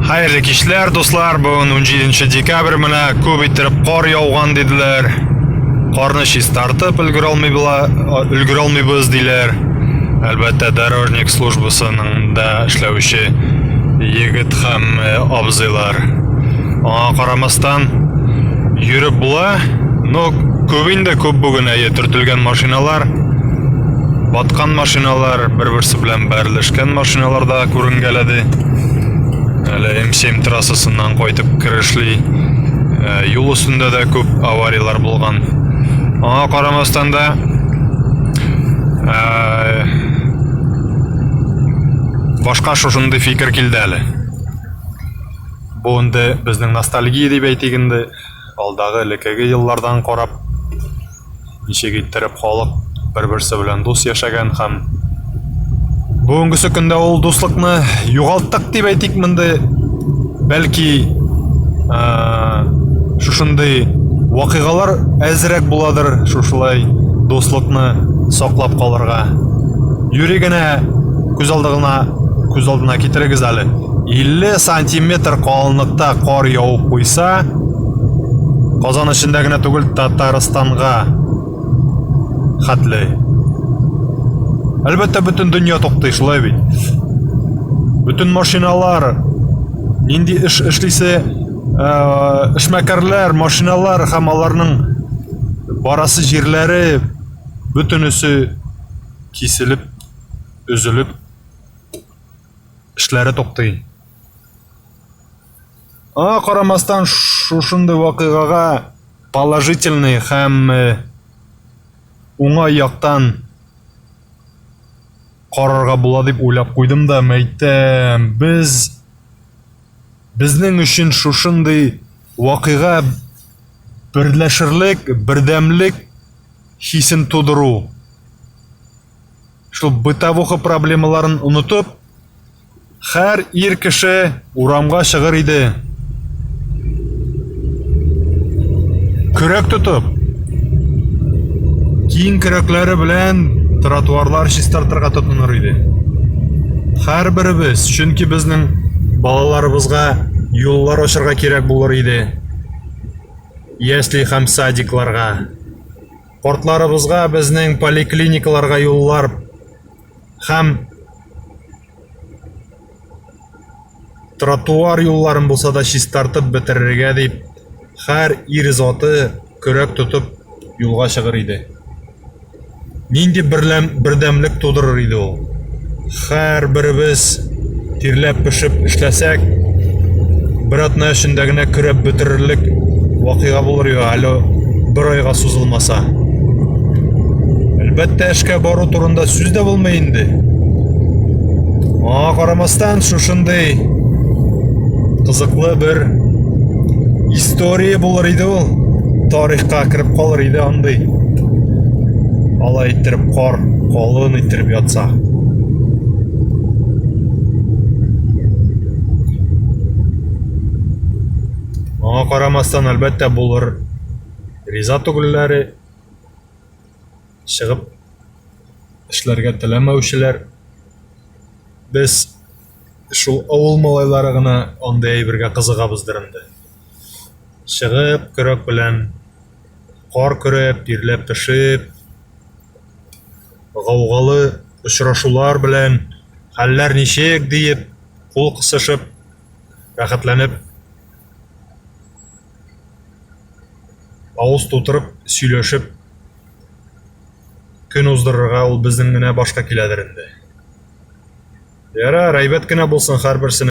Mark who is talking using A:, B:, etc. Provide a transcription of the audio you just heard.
A: Хәерле кичләр, дуслар. Бүген 17 декабрь менә күп иттереп кар яуган диделәр. Карны чистартып өлгерә алмыйбыз диләр. Әлбәттә, дорожник службасының да эшләүче егет һәм э, абзыйлар. Аңа карамастан йөреп була. Но күп инде күп бүген әйе төртелгән машиналар, баткан машиналар бер-берсе белән Бәрелешкән машиналар да күренгәләде. Әле М7 трассасыннан кайтып керешли. Э, юл өстендә дә күп аварияләр булган. Аңа карамастан да э, башка шушындый фикер килде әле. Бу инде безнең ностальгия дип әйтик инде. Алдагы элеккеге еллардан карап ничек иттереп халык бер-берсе белән дус яшәгән һәм бүгенгесе көндә ул дуслыкны югалттык дип әйтик монды бәлки ә, шушындый вакыйгалар әзрәк буладыр шушылай дуслыкны саклап калырга юри генә күз алдына күз алдына китерегез әле 50 сантиметр калынлыкта кар явып куйса Казан эчендә генә түгел, Татарстанга хәтле. Әлбәттә, бөтен дөнья туктый, шулай бит. Бөтен машиналар нинди эш эшлисе, э, эшмәкәрләр, машиналар һәм аларның барасы җирләре бөтенесе киселеп, өзелеп эшләре туктый. Аңа карамастан шушындый вакыйгага положительный һәм уңай яктан карарга була дип уйлап куйдым да мәйтәм без безнең өчен шушындый вакыйга берләшерлек бердәмлек хисен тудыру шул бытовуха проблемаларын онытып Хәр ир кеше урамга чыгыр иде. Көрәк тотып, киң көрәкләре белән тротуарлар чистартырга тотыныр иде. Һәрберебез, чөнки безнең балаларыбызга юллар ачарга кирәк булыр иде. Ясли һәм садикларга. Картларыбызга безнең поликлиникаларга юллар һәм тротуар юлларын булса да чистартып бетерергә дип һәр ир заты көрәк тотып юлга чыгыр иде нинди берләм, бердәмлек тудырыр иде ул һәрберебез Тирләп пешеп эшләсәк, бер атна эчендә генә көрәп бетерерлек вакыйга булыр иде, әле бер айга сузылмаса. Әлбәттә, эшкә бару турында сүз дә булмый инде. Аңа карамастан, шушындый кызыклы бер история булыр иде ул. Тарихка кереп калыр иде андый. Алай иттереп кар, калын иттереп ятса. Аңа карамастан, әлбәттә, булыр риза түгелләре, чыгып эшләргә теләмәүчеләр. Без шул авыл малайлары гына андый әйбергә кызыгабыздыр инде. Чыгып, көрәк белән кар көрәп, тирләп, пешеп, гаугалы очрашулар белән хәлләр ничек диеп кул кысышып рәхәтләнеп авыз тутырып сөйләшеп көн уздырырга ул безнең генә башка киләдер инде. Ярар, әйбәт кенә булсын һәрберсенең.